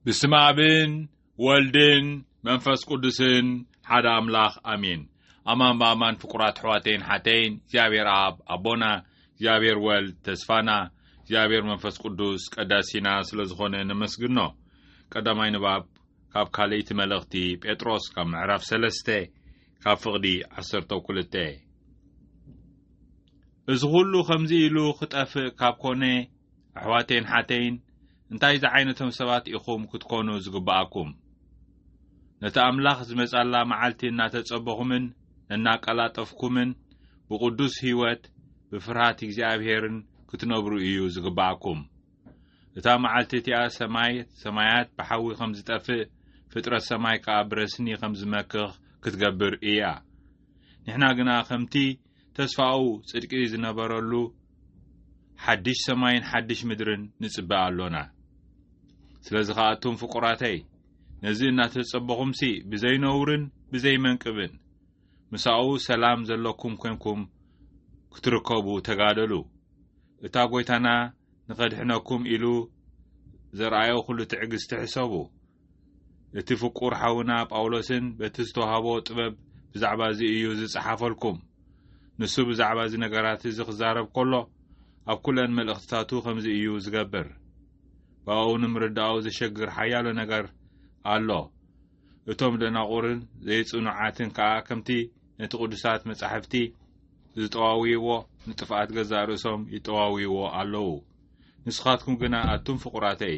ብስመ ኣብን ወልድን መንፈስ ቅዱስን ሓደ ኣምላኽ ኣሜን። ኣማን ብኣማን ፍቁራት ኣሕዋተይን ሓተይን እግዚኣብሔር ኣብ ኣቦና እግዚኣብሔር ወልድ ተስፋና እግዚኣብሔር መንፈስ ቅዱስ ቀዳሲና ስለ ዝኾነ ነመስግኖ። ቀዳማይ ንባብ ካብ ካልእቲ መልእኽቲ ጴጥሮስ ካብ ምዕራፍ ሰለስተ ካብ ፍቕዲ ዓሰርተ ኩልተ እዚ ዅሉ ኸምዚ ኢሉ ኽጠፍእ ካብ ኮነ ኣሕዋተይን ሓተይን እንታይ ዝዓይነቶም ሰባት ኢኹም ክትኮኑ ዝግብኣኩም? ነቲ ኣምላኽ ዝመጻላ መዓልቲ እናተጸበኹምን እናቀላጠፍኩምን ብቕዱስ ህይወት ብፍርሃት እግዚኣብሔርን ክትነብሩ እዩ ዝግብኣኩም። እታ መዓልቲ እቲኣ ሰማይ ሰማያት ብሓዊ ከም ዝጠፍእ ፍጥረት ሰማይ ከኣ ብረስኒ ከም ዝመክኽ ክትገብር እያ። ንሕና ግና ከምቲ ተስፋኡ ጽድቂ ዝነበረሉ ሓድሽ ሰማይን ሓድሽ ምድርን ንጽበ ኣሎና። ስለዚ ኸኣ ኣቱም ፍቁራተይ፣ ነዚ እናተጸበኹምሲ ብዘይነውርን ብዘይመንቅብን ምሳኡ ሰላም ዘሎኩም ኰንኩም ክትርከቡ ተጋደሉ። እታ ጐይታና ንኸድሕነኩም ኢሉ ዘርኣዮ ዅሉ ትዕግስቲ ሕሰቡ። እቲ ፍቁር ሓውና ጳውሎስን በቲ ዝተዋህቦ ጥበብ ብዛዕባ እዚ እዩ ዝጸሓፈልኩም። ንሱ ብዛዕባ እዚ ነገራት እዚ ክዛረብ ከሎ ኣብ ኩለን መልእኽትታቱ ከምዚ እዩ ዝገብር። ብኣኡ ንምርዳኡ ዘሸግር ሓያሎ ነገር ኣሎ። እቶም ደናቑርን ዘይጽኑዓትን ከኣ ከምቲ ነቲ ቅዱሳት መጻሕፍቲ ዝጠዋውይዎ ንጥፍኣት ገዛእ ርእሶም ይጠዋውይዎ ኣለዉ። ንስኻትኩም ግና ኣቱም ፍቁራተይ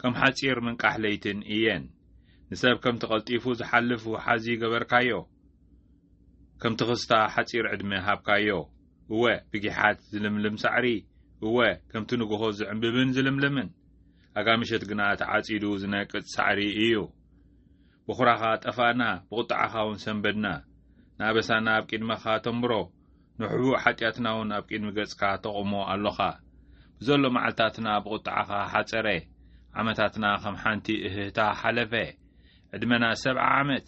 ከም ሓጺር ምንቃሕ ለይትን እየን። ንሰብ ከምቲ ቀልጢፉ ዝሓልፍ ውሓዚ ገበርካዮ፣ ከም ትኽስታ ሓጺር ዕድመ ሃብካዮ። እወ ብጊሓት ዝልምልም ሳዕሪ፣ እወ ከምቲ ንግሆ ዝዕምብብን ዝልምልምን፣ ኣጋ ምሸት ግና ተዓጺዱ ዝነቅጽ ሳዕሪ እዩ። ብኹራኻ ጠፋእና፣ ብቑጥዓኻውን ሰንበድና፣ ንኣበሳና ኣብ ቂድመኻ ተንብሮ፣ ንሕቡእ ሓጢኣትናውን ኣብ ቅድሚ ገጽካ ተቑሞ ኣሎኻ። ብዘሎ መዓልታትና ብቝጥዓኻ ሓጸረ፣ ዓመታትና ኸም ሓንቲ እህህታ ሓለፈ። ዕድመና ሰብዓ ዓመት፣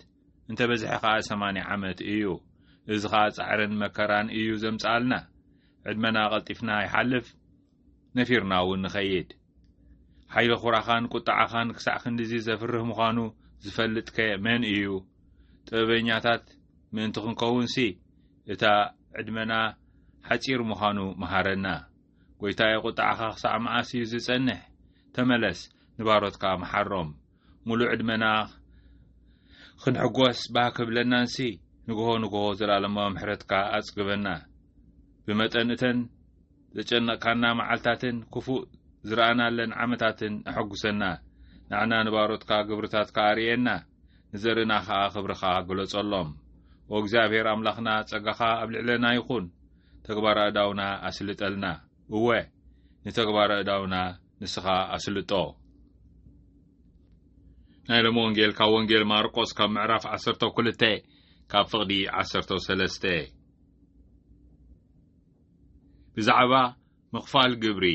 እንተ በዝሐ ኸኣ ሰማንያ ዓመት እዩ፣ እዚ ኸኣ ጻዕርን መከራን እዩ ዘምጽኣልና። ዕድመና ቐልጢፍና ይሓልፍ፣ ነፊርና'ውን ንኸይድ። ሓይሊ ኹራኻን ቁጥዓኻን ክሳዕ ክንድዚ ዘፍርህ ምዃኑ ዝፈልጥከ መን እዩ? ጥበበኛታት ምእንቲ ክንከውንሲ እታ ዕድመና ሓጺር ምዃኑ መሃረና። ጐይታየ ቁጥዓኻ ክሳዕ መዓስ እዩ ዝጸንሕ? ተመለስ፣ ንባሮትካ መሓሮም። ሙሉእ ዕድመና ክንሕጎስ ባህ ክብለናንሲ ንግሆ ንግሆ ዘልኣለማዊ ምሕረትካ ኣጽግበና። ብመጠን እተን ዘጨነቕካና መዓልታትን ክፉእ ዝረኣናለን ዓመታትን ኣሐጉሰና። ንዓና ንባሮትካ ግብርታትካ ኣርእየና፣ ንዘርእና ከኣ ክብርኻ ግለጸሎም። ኦ እግዚኣብሔር ኣምላኽና ጸጋኻ ኣብ ልዕለና ይኹን፣ ተግባር ኣእዳውና ኣስልጠልና። እወ ንተግባር ኣእዳውና ንስኻ ኣስልጦ። ናይ ሎሚ ወንጌል ካብ ወንጌል ማርቆስ ካብ ምዕራፍ ዓሰርተ ክልተ ካብ ፍቕዲ ዓሰርተ ሰለስተ ብዛዕባ ምኽፋል ግብሪ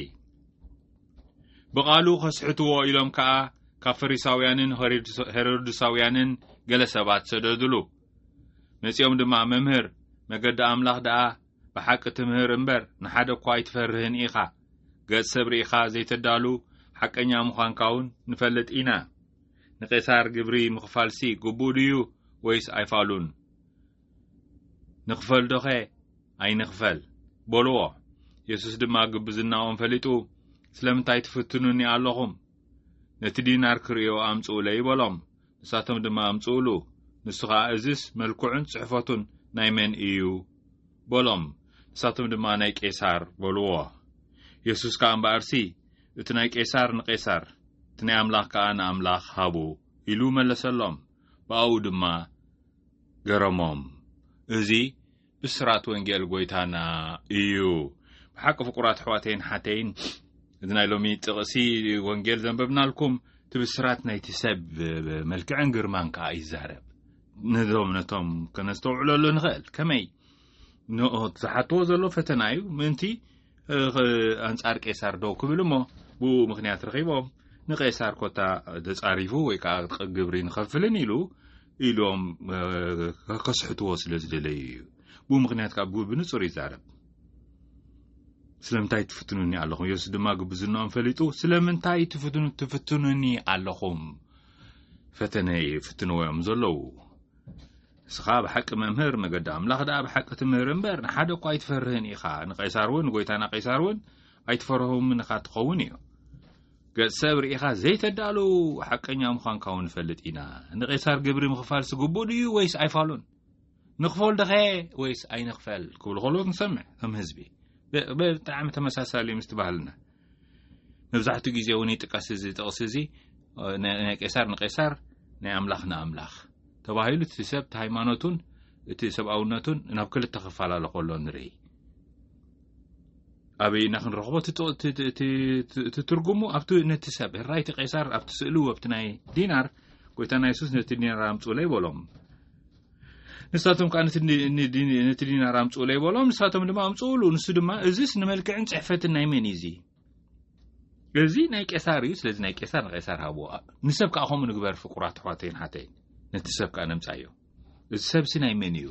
ብቓሉ ከስሕትዎ ኢሎም ከኣ ካብ ፈሪሳውያንን ሄሮድሳውያንን ገለ ሰባት ሰደድሉ መጺኦም ድማ መምህር መገዲ ኣምላኽ ደኣ ብሓቂ ትምህር እምበር ንሓደ እኳ ኣይትፈርህን ኢኻ። ገጽ ሰብ ርኢኻ ዘይተዳሉ ሓቀኛ ምዃንካ እውን ንፈልጥ ኢና። ንቄሳር ግብሪ ምኽፋልሲ ግቡእ ድዩ ወይስ ኣይፋሉን? ንኽፈል ዶኸ ኣይንኽፈል? በልዎ። የሱስ ድማ ግብዝናኦም ፈሊጡ ስለምንታይ ትፍትኑኒ ኣሎኹም? ነቲ ዲናር ክርእዮ ኣምጽኡለይ በሎም። ንሳቶም ድማ ኣምጽኡሉ፣ ንሱ ኸኣ እዝስ መልክዑን ጽሕፈቱን ናይ መን እዩ? በሎም። ንሳቶም ድማ ናይ ቄሳር በልዎ። የሱስ ከኣ እምበኣርሲ እቲ ናይ ቄሳር ንቄሳር፣ እቲ ናይ ኣምላኽ ከኣ ንኣምላኽ ሃቡ ኢሉ መለሰሎም። ብኣኡ ድማ ገረሞም። እዚ ብስራት ወንጌል ጎይታና እዩ ብሓቂ ፍቁራት ኣሕዋተይን ሓተይን እዚ ናይ ሎሚ ጥቕሲ ወንጌል ዘንበብናልኩም እቲ ብስራት ናይቲ ሰብ መልክዕን ግርማን ከዓ ይዛረብ ነዞም ነቶም ከነስተውዕለሉ ንኽእል ከመይ ንኦት ዝሓትዎ ዘሎ ፈተና እዩ ምእንቲ ኣንጻር ቄሳር ደው ክብል እሞ ብኡ ምክንያት ረኺቦም ንቄሳር ኮታ ተጻሪፉ ወይ ከዓ ግብሪ ንኸፍልን ኢሉ ኢሎም ከስሕትዎ ስለ ዝደለዩ እዩ ብኡ ምክንያት ካብ ግቡ ብንጹር ይዛረብ ስለምንታይ ትፍትኑኒ ኣለኹም የሱስ ድማ ግብዝናኦም ፈሊጡ ስለምንታይ ትፍትኑ ትፍትኑኒ ኣለኹም ፈተነ ይፍትንዎ እዮም ዘለዉ እስኻ ብሓቂ መምህር መገዲ ኣምላኽ ደኣ ብሓቂ ትምህር እምበር ንሓደ እኳ ኣይትፈርህን ኢኻ ንቀይሳር እውን ንጎይታና ቀይሳር እውን ኣይትፈርሆምን እኻ ትኸውን እዩ ገጽ ሰብ ርኢኻ ዘይተዳሉ ሓቀኛ ምዃንካ እውን ንፈልጥ ኢና ንቄሳር ግብሪ ምኽፋል ስግቡእ ድዩ ወይስ ኣይፋሉን ንኽፈል ደኸ ወይስ ኣይንኽፈል ክብሉ ከሎት ንሰምዕ ከም ህዝቢ ብጣዕሚ ተመሳሳሊ ምስ ትባህልና መብዛሕትኡ ግዜ እውን ይጥቀስ እዚ ጥቕሲ እዚ ናይ ቄሳር ንቄሳር ናይ ኣምላኽ ንኣምላኽ ተባሂሉ እቲ ሰብ እቲ ሃይማኖቱን እቲ ሰብኣውነቱን ናብ ክልተ ክፈላለ ከሎ ንርኢ ኣበይ ኢና ክንረኽቦ እቲ ጥቕ- እቲ- እቲ- እቲ- እቲ- እቲ ትርጉሙ ኣብቲ ነቲ ሰብ ህራ እቲ ቄሳር ኣብቲ ስእሉ ኣብቲ ናይ ዲናር ጎይታና የሱስ ነቲ ዲናር ኣምጽኡለይ በሎም ንሳቶም ከዓ ነቲ ዲ- ኒ- ዲ- ነቲ ዲናር ኣምጽኡለይ በሎም ንሳቶም ድማ ኣምጽኡሉ ንሱ ድማ እዚስ ንመልክዕን ጽሕፈትን ናይ መን እዩ እዚ እዚ ናይ ቄሳር እዩ ስለዚ ናይ ቄሳር ንቄሳር ሃብዎ ንሰብ ከዓ ከምኡ ንግበር ፍቁራት ኣሕዋተይን ሓተይ ነቲ ሰብ ከዓ ነምፃዮ እዚ ሰብሲ ናይ መን እዩ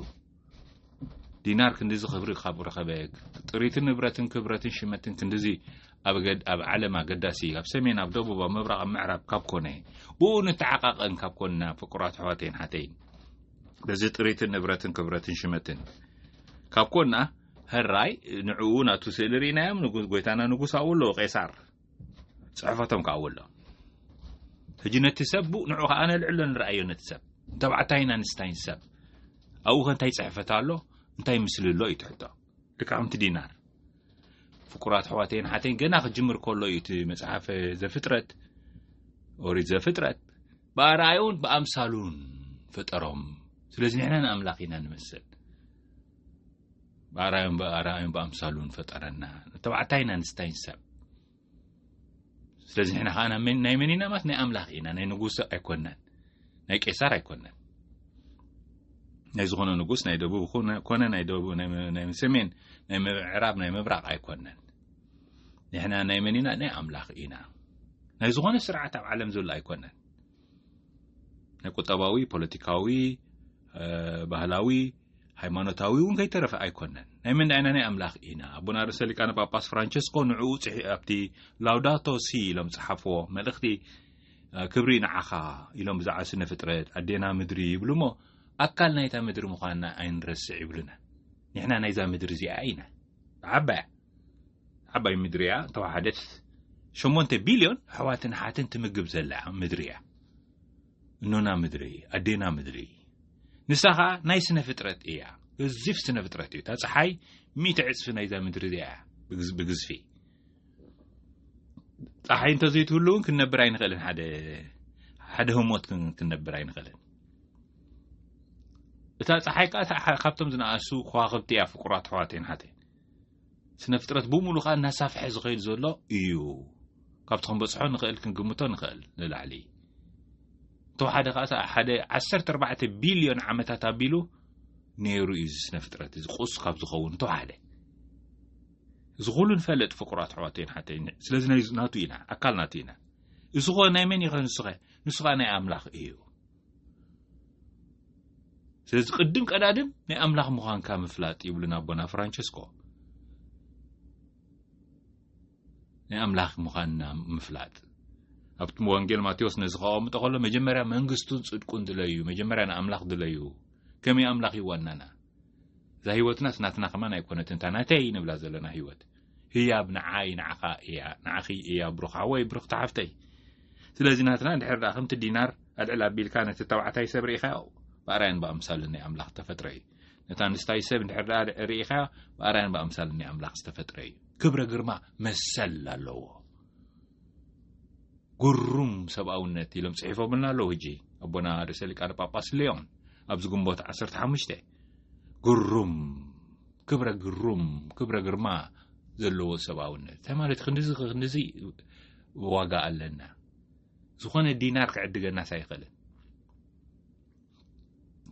ዲናር ክንዲዚ ክብሪ ካብ ረኸበ ጥሪትን ንብረትን ክብረትን ሽመትን ክንዲዚ ኣብ ዓለም ኣገዳሲ ኣብ ሰሜን ኣብ ደቡብ ኣብ ምብራቕ ኣብ ምዕራብ ካብ ኮነ ብኡ ንተዓቃቐን ካብ ኮንና ፍቁራት ኣሕዋተይን ሓተይን በዚ ጥሪትን ንብረትን ክብረትን ሽመትን ካብ ኮንና ሕራይ ንዕኡ ናቱ ስእሊ ርኢናዮም ንጉስ ጎይታና ንጉስ ኣብኡ ኣለዎ ቄሳር ጽሕፈቶም ከኣ ኣብኡ ኣሎ ሕጂ ነቲ ሰብ ቡእ ንዕኡ ከኣ ነልዕሎ ንርኣዮ ነቲ ሰብ ተባዕታይን ኣንስታይን ሰብ ኣብኡ ከ እንታይ ጽሕፈት ኣሎ እንታይ ምስሊ ኣሎ እዩ ትሕቶ ልቃምቲ ዲናር ፍቁራት ኣሕዋተይን ሓተይን ገና ክጅምር ከሎ እዩ እቲ መጽሓፈ ዘፍጥረት ኦሪት ዘፍጥረት ብኣርኣዩን ብኣምሳሉን ፈጠሮም ስለዚ ንሕና ንኣምላኽ ኢና ንመስል ብኣርኣዮም ብኣርኣዮም ብኣምሳሉን ፈጠረና ተባዕታይን ኣንስታይን ሰብ ስለዚ ንሕና ከዓ ናይ መን ኢና ማለት ናይ ኣምላኽ ኢና ናይ ንጉስ ኣይኮናን ናይ ቄሳር ኣይኮናን ናይ ዝኾነ ንጉስ ናይ ደቡብ ኮነ ናይ ደቡብ ናይ ሰሜን ናይ ምዕራብ ናይ ምብራቕ ኣይኮነን ንሕና ናይ መን ኢና ናይ ኣምላኽ ኢና ናይ ዝኾነ ስርዓት ኣብ ዓለም ዘሎ ኣይኮነን ናይ ቁጠባዊ ፖለቲካዊ ባህላዊ ሃይማኖታዊ እውን ከይተረፈ ኣይኮነን ናይ መን ዳይና ናይ ኣምላኽ ኢና ኣቡና ርእሰ ሊቃነ ጳጳስ ፍራንቸስኮ ንዕኡ ፅሒ ኣብቲ ላውዳቶ ሲ ኢሎም ዝፀሓፍዎ መልእኽቲ ክብሪ ንዓኻ ኢሎም ብዛዕባ ስነ ፍጥረት ኣዴና ምድሪ ይብሉ እሞ ኣካል ናይታ ምድሪ ምዃንና ኣይንረስዕ ይብሉና ንሕና ናይዛ ምድሪ እዚኣ ኢና ብዓባያ ዓባይ ምድሪ እያ ተዋሓደት ሸሞንተ ቢልዮን ኣሕዋትን ኣሓትን ትምግብ ዘላ ምድሪ እያ እኖና ምድሪ ኣዴና ምድሪ ንሳ ኸዓ ናይ ስነ ፍጥረት እያ ገዚፍ ስነ ፍጥረት እዩ እታ ፀሓይ ሚእቲ ዕፅፊ ናይዛ ምድሪ እዚኣ እያ ብግዝፊ ፀሓይ እንተዘይትህሉ እውን ክንነብር ኣይንኽእልን ሓደ ሓደ ህሞት ክንነብር ኣይንኽእልን እታ ፀሓይ ከዓ ካብቶም ዝነኣሱ ከዋኽብቲ እያ ፍቁራት ኣሕዋተይን ሓተይን ስነ ፍጥረት ብሙሉ ከኣ እናሳፍሐ ዝኸይድ ዘሎ እዩ ካብቲ ክንበጽሖ ንኽእል ክንግምቶ ንኽእል ንላዕሊ እንተወሓደ ከኣ ሓደ 14 ቢልዮን ዓመታት ኣቢሉ ነይሩ እዩ እዚ ስነ ፍጥረት እዚ ቁስ ካብ ዝኸውን እንተወሓደ እዚ ኩሉ ንፈልጥ ፍቁራት ኣሕዋተይን ሓተይን ስለዚ ናቱ ኢና ኣካል ናቱ ኢና እዚ ኾ ናይ መን ይኸ ንስኸ ንሱ ከኣ ናይ ኣምላኽ እዩ ስለዚ ቅድም ቀዳድም ናይ ኣምላኽ ምዃንካ ምፍላጥ ይብሉና ኣቦና ፍራንቸስኮ ናይ ኣምላኽ ምዃንና ምፍላጥ ኣብቲ ወንጌል ማቴዎስ ነዚ ከቐምጦ ከሎ መጀመርያ መንግስቱን ጽድቁን ድለዩ መጀመርያ ንኣምላኽ ድለዩ ከመይ ኣምላኽ እዩ ዋናና እዛ ህይወትናስ ናትና ከማን ኣይኮነትን እታ ናተይ ንብላ ዘለና ህይወት ህያብ ንዓይ ንዓኻ ኢያ ንዓኺ ኢያ ብሩኽ ሓወይ ብርኽቲ ሓፍተይ ስለዚ ናትና ድሕር ደኣ ከምቲ ዲናር ኣልዕል ኣቢልካ ነቲ ተባዕታይ ሰብ ርኢኻዮ ብኣርኣያን ብኣምሳልን ናይ ኣምላኽ እተፈጥረ እዩ ነታ ኣንስታይ ሰብ ድሕር ደኣ ርኢኻዮ ብኣርኣያን ብኣምሳልን ናይ ኣምላኽ ዝተፈጥረ እዩ ክብረ ግርማ መሰል ኣለዎ ጉሩም ሰብኣውነት ኢሎም ጽሒፎምልና ኣለዉ ሕጂ ኣቦና ርእሰ ሊቃነ ጳጳስ ልዮን ኣብዚ ግንቦት 15 ጉሩም ክብረ ግሩም ክብረ ግርማ ዘለዎ ሰብኣውነት እንታይ ማለት ክንድዚ ክንድዚ ዋጋ ኣለና ዝኾነ ዲናር ክዕድገናስ ኣይኽእልን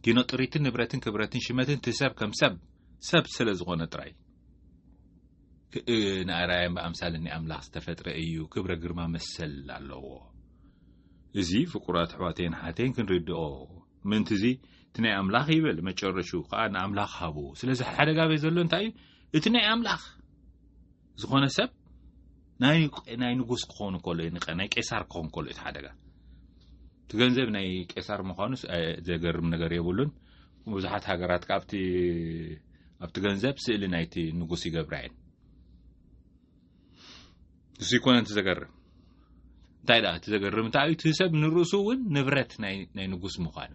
ኪኖ ጥሪትን ንብረትን ክብረትን ሽመትን እቲ ሰብ ከም ሰብ ሰብ ስለ ዝኾነ ጥራይ ንኣርኣያን ብኣምሳልን ኣምላኽ ዝተፈጥረ እዩ ክብረ ግርማ መሰል ኣለዎ እዚ ፍቁራት ኣሕዋተይን ሓተይን ክንርድኦ ምእንቲ እዚ እቲ ናይ ኣምላኽ ይብል መጨረሹ ከኣ ንኣምላኽ ሃቡ ስለዚ ሓደጋ ቤት ዘሎ እንታይ እዩ እቲ ናይ ኣምላኽ ዝኾነ ሰብ ናይ ንጉስ ክኾኑ ከሎ ናይ ቄሳር ክኾን ከሎ እቲ ሓደጋ እቲ ገንዘብ ናይ ቄሳር ምዃኑ ዘገርም ነገር የብሉን ብዙሓት ሃገራት ካብቲ ኣብቲ ገንዘብ ስእሊ ናይቲ ንጉስ ይገብራ እየን እሱ ይኮነ እቲ ዘገርም እንታይ ደኣ እቲ ዘገርም እንታይ እዩ እቲ ሰብ ንርእሱ እውን ንብረት ናይ ንጉስ ምዃኑ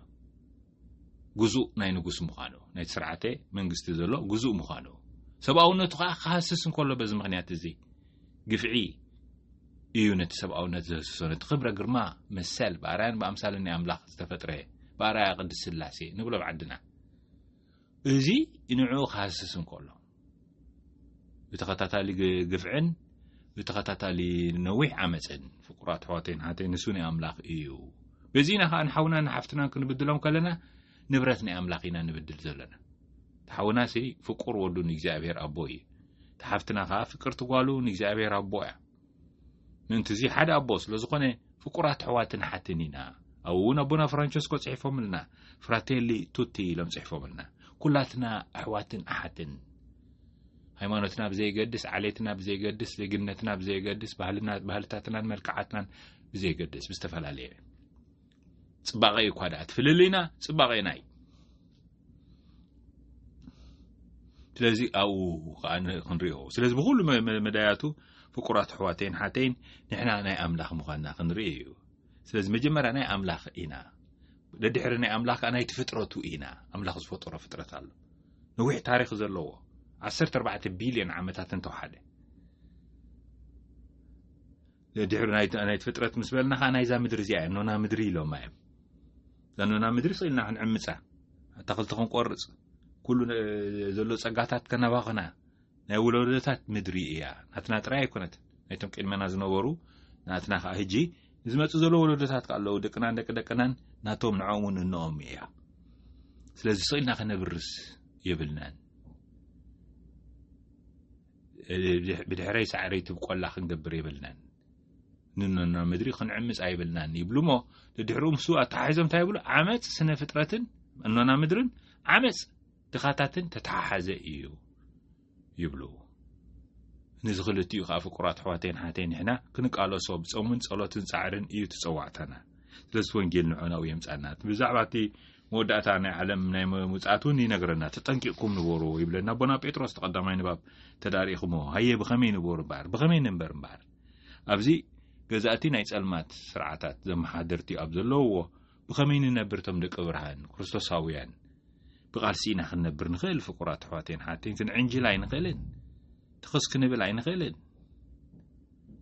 ግዙእ ናይ ንጉስ ምዃኑ ናይቲ ስርዓተ መንግስቲ ዘሎ ግዙእ ምዃኑ ሰብኣውነቱ ከዓ ክሃስስ እንከሎ በዚ ምክንያት እዚ ግፍዒ እዩ ነቲ ሰብኣውነት ዘህስሶ ነቲ ክብረ ግርማ መሰል ብኣርያን ብኣምሳለ ናይ ኣምላኽ ዝተፈጥረ ብኣርኣያ ቅድስ ስላሴ ንብሎ ብዓድና እዚ ንዕኡ ክሃስስ እንከሎ ብተኸታታሊ ግፍዕን ብተኸታታሊ ነዊሕ ዓመፅን ፍቁራት ኣሕዋተይን ሓተይ ንሱ ናይ ኣምላኽ እዩ በዚና ከዓ ንሓውና ንሓፍትናን ክንብድሎም ከለና ንብረት ናይ ኣምላኽ ኢና ንብድል ዘለና ተሓውና ሲ ፍቁር ወዱ ንእግዚኣብሔር ኣቦ እዩ ተሓፍትና ከዓ ፍቅርቲ ጓሉ ንእግዚኣብሔር ኣቦ እያ ምእንቲዚ ሓደ ኣቦ ስለ ዝኾነ ፍቁራት ኣሕዋትን ኣሓትን ኢና። ኣብኡ እውን ኣቦና ፍራንቸስኮ ጽሒፎምልና ፍራቴሊ ቱቲ ኢሎም ጽሒፎምልና ኩላትና ኣሕዋትን ኣሓትን ሃይማኖትና ብዘይገድስ ዓሌትና ብዘይገድስ ዜግነትና ብዘይገድስ ባህልታትናን መልክዓትናን ብዘይገድስ ብዝተፈላለየ ጽባቐ እዩ እኳ ደኣ ትፍልልይና ጽባቐና እዩ ስለዚ ኣብኡ ከዓ ክንሪኦ ስለዚ ብኩሉ መዳያቱ ፍቁራት ኣሕዋተይን ሓተይን ንሕና ናይ ኣምላኽ ምዃንና ክንርኢ እዩ ስለዚ መጀመርያ ናይ ኣምላኽ ኢና ደድሕሪ ናይ ኣምላኽ ከዓ ናይቲ ፍጥረቱ ኢና ኣምላኽ ዝፈጠሮ ፍጥረት ኣሎ ነዊሕ ታሪክ ዘለዎ 14 ቢልዮን ዓመታት እንተውሓደ ድሕሪ ናይ ፍጥረት ምስ በልና ከኣ ናይዛ ምድሪ እዚኣ እያ ኖና ምድሪ ኢሎማ እዮም እዛ ኖና ምድሪ ስኢልና ክንዕምፃ ኣታኽልቲ ክንቆርፅ ኩሉ ዘሎ ፀጋታት ከናባኸና ናይ ውለዶታት ምድሪ እያ ናትና ጥራይ ኣይኮነት ናይቶም ቅድመና ዝነበሩ ናትና ከዓ ህጂ ዝመፁ ዘሎ ወለዶታት ከዓ ኣለዉ ደቅናን ደቂ ደቅናን ናቶም ንዕኦም እውን እንኦም እያ ስለዚ ስኢልና ከነብርስ የብልናን ብድሕረይ ሳዕረይ ትብቆላ ክንገብር የብልናን ንኖና ምድሪ ክንዕምፅ ኣይብልናን ይብሉ እሞ ድድሕርኡ ምስ ኣተሓሒዞም እንታይ ይብሉ ዓመፅ ስነ ፍጥረትን እኖና ምድርን ዓመፅ ድኻታትን ተተሓሓዘ እዩ ይብሉ ነዚ ክልቲኡ ከዓ ፍቁራት ኣሕዋተይን ሓተይ ንሕና ክንቃለሶ ብፆምን ፀሎትን ፃዕርን እዩ ትፀዋዕታና ስለዚ ወንጌል ንዖናኡ የምፃና ብዛዕባ እቲ መወዳእታ ናይ ዓለም ናይ ምውጻት እውን ይነግረና ተጠንቂቕኩም ንበሩ ይብለና ኣቦና ጴጥሮስ ተቐዳማይ ንባብ ተዳሪእኹሞ ሃየ ብኸመይ ንበሩ እምበኣር ብኸመይ ንንበር እምበኣር ኣብዚ ገዛእቲ ናይ ጸልማት ስርዓታት ዘመሓደርቲ ኣብ ዘለውዎ ብኸመይ ንነብር እቶም ደቂ ብርሃን ክርስቶሳውያን ብቓልሲ ኢና ክንነብር ንኽእል ፍቁራት ኣሕዋቴን ሓቴን ክንዕንጅል ኣይንኽእልን ትኽስ ክንብል ኣይንኽእልን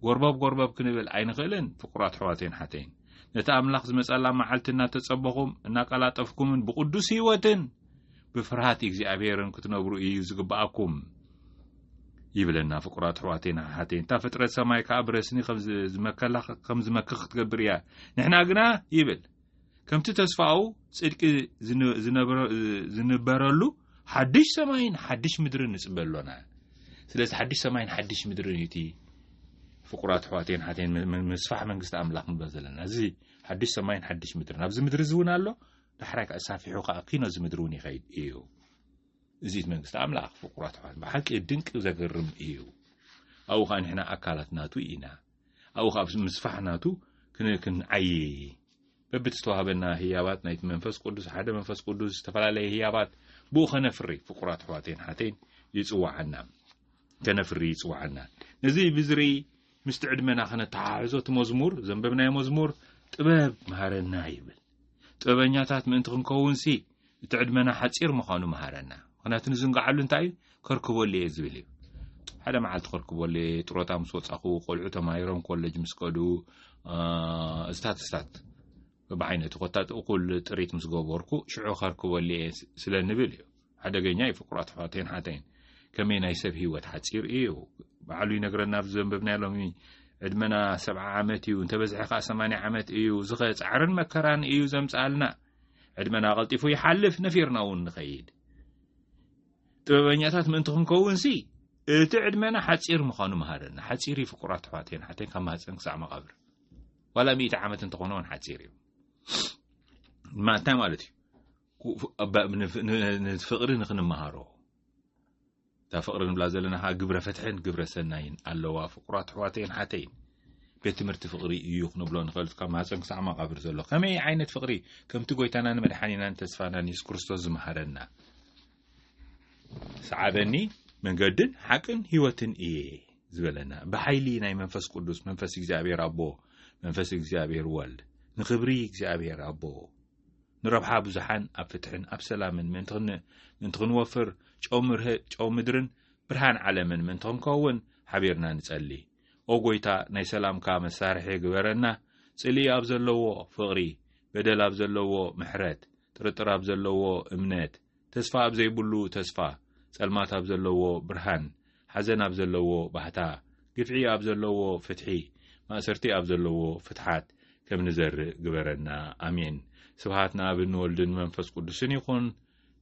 ጎርበብ ጎርበብ ክንብል ኣይንኽእልን ፍቁር ኣትሕዋተይን ሓተይን ነቲ ኣምላኽ ዝመጸላ መዓልቲ እናተጸበኹም እናቀላጠፍኩምን ብቕዱስ ህይወትን ብፍርሃት እግዚኣብሔርን ክትነብሩ እዩ ዝግብኣኩም ይብለና ፍቁር ኣትሕዋተይን ሓሓተይን እታ ፍጥረት ሰማይ ከኣ ብረስኒ ከም ዝመከኽ ክትገብር እያ ንሕና ግና ይብል ከምቲ ተስፋኡ ጽድቂ ዝንበረሉ ሓድሽ ሰማይን ሓድሽ ምድርን ንጽበ ኣሎና ስለዚ ሓድሽ ሰማይን ሓድሽ ምድርን እዩ እቲ ፍቁራት ኣሕዋተይን ሓተይን ምስፋሕ መንግስቲ ኣምላኽ ንብሎ ዘለና እዚ ሓድሽ ሰማይን ሓድሽ ምድርን ኣብዚ ምድሪ እዚ እውን ኣሎ ዳሕራይ ከዓ ሳፊሑ ከዓ ኪኖ እዚ ምድሪ እውን ይኸይድ እዩ እዚት መንግስቲ ኣምላኽ ፍቁራት ኣሕዋት ብሓቂ ድንቂ ዘገርም እዩ ኣብኡ ከዓ ንሕና ኣካላት ናቱ ኢና ኣብኡ ኸኣ ምስ ምስፋሕ ናቱ ክን ክንዓዪ በብቲ ዝተዋህበና ህያባት ናይቲ መንፈስ ቅዱስ ሓደ መንፈስ ቅዱስ ዝተፈላለየ ህያባት ብኡ ከነፍሪ ፍቁራት ኣሕዋተይን ሓተይን ይጽዋዓና ከነፍሪ ይጽዋዓና ነዚ ብዝርኢ ምስቲ ዕድመና ከነተሓሕዞ እቲ መዝሙር ዘንበብናዮ መዝሙር ጥበብ መሃረና ይብል ጥበበኛታት ምእንቲ ክንከውንሲ እቲ ዕድመና ሓጺር ምዃኑ መሃረና ምክንያቱ ንዝንግዓሉ እንታይ እዩ ከርክበሉ እየ ዝብል እዩ ሓደ መዓልቲ ከርክበሉ እየ ጥሮታ ምስ ወጻኹ ቆልዑ ተማሂሮም ኮለጅ ምስ ከዱ እስታት እስታት ብዓይነቱ ኮታ እኩል ጥሪት ምስ ገበርኩ ሽዑ ከርክበሉ እየ ስለ ንብል እዩ ሓደገኛ እዩ ፍቁራት ኣሕዋተይን ሓተይን ከመይ ናይ ሰብ ሂወት ሓፂር እዩ በዓሉ ይነግረና ኣብዚ ዘንበብናዮ ሎሚ ዕድመና ሰብዓ ዓመት እዩ እንተበዝሐ ከዓ ሰማንያ ዓመት እዩ ዝኸ ፃዕርን መከራን እዩ ዘምፅኣልና ዕድመና ቀልጢፉ ይሓልፍ ነፊርና እውን ንኸይድ ጥበበኛታት ምእንቲ ክንከውን ሲ እቲ ዕድመና ሓፂር ምዃኑ መሃረና ሓፂር እዩ ፍቁራት ኣሕዋተይን ሓተይን ካብ ማህፀን ክሳዕ መቓብር ዋላ ሚእቲ ዓመት እንተኾነ እውን ሓፂር እዩ ማንታይ ማለት እዩ ፍቕሪ ንክንመሃሮ እታ ፍቕሪ ንብላ ዘለና ከዓ ግብረ ፍትሕን ግብረ ሰናይን ኣለዋ ፍቁራት ኣሕዋተይን ሓተይን ቤት ትምህርቲ ፍቕሪ እዩ ክንብሎ ንኽእል ካብ ማህፀን ክሳዕ መቓብር ዘሎ ከመይ ዓይነት ፍቕሪ ከምቲ ጎይታናን መድሓኒናን ተስፋናን የሱስ ክርስቶስ ዝመሃረና ሰዓበኒ መንገድን ሓቅን ህይወትን እየ ዝበለና ብሓይሊ ናይ መንፈስ ቅዱስ መንፈስ እግዚኣብሔር ኣቦ መንፈስ እግዚኣብሔር ወልድ ንኽብሪ እግዚኣብሔር ኣቦ ንረብሓ ብዙሓን ኣብ ፍትሕን ኣብ ሰላምን ምእንቲ ክንወፍር ጨው ምርህ ጨው ምድርን ብርሃን ዓለምን ምእንቲ ክንከውን ሓቢርና ንጸሊ ኦ ጎይታ ናይ ሰላምካ መሳርሒ ግበረና ጽልኢ ኣብ ዘለዎ ፍቕሪ በደል ኣብ ዘለዎ ምሕረት ጥርጥር ኣብ ዘለዎ እምነት ተስፋ ኣብ ዘይብሉ ተስፋ፣ ጸልማት ኣብ ዘለዎ ብርሃን፣ ሓዘን ኣብ ዘለዎ ባህታ፣ ግፍዒ ኣብ ዘለዎ ፍትሒ፣ ማእሰርቲ ኣብ ዘለዎ ፍትሓት ከም ንዘርእ ግበረና። ኣሜን። ስብሃት ንኣብን ንወልድን መንፈስ ቅዱስን ይኹን፣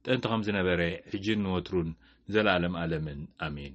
ጥንቲ ከም ዝነበረ፣ ሕጂን ንወትሩን ንዘለኣለም ኣለምን። ኣሜን።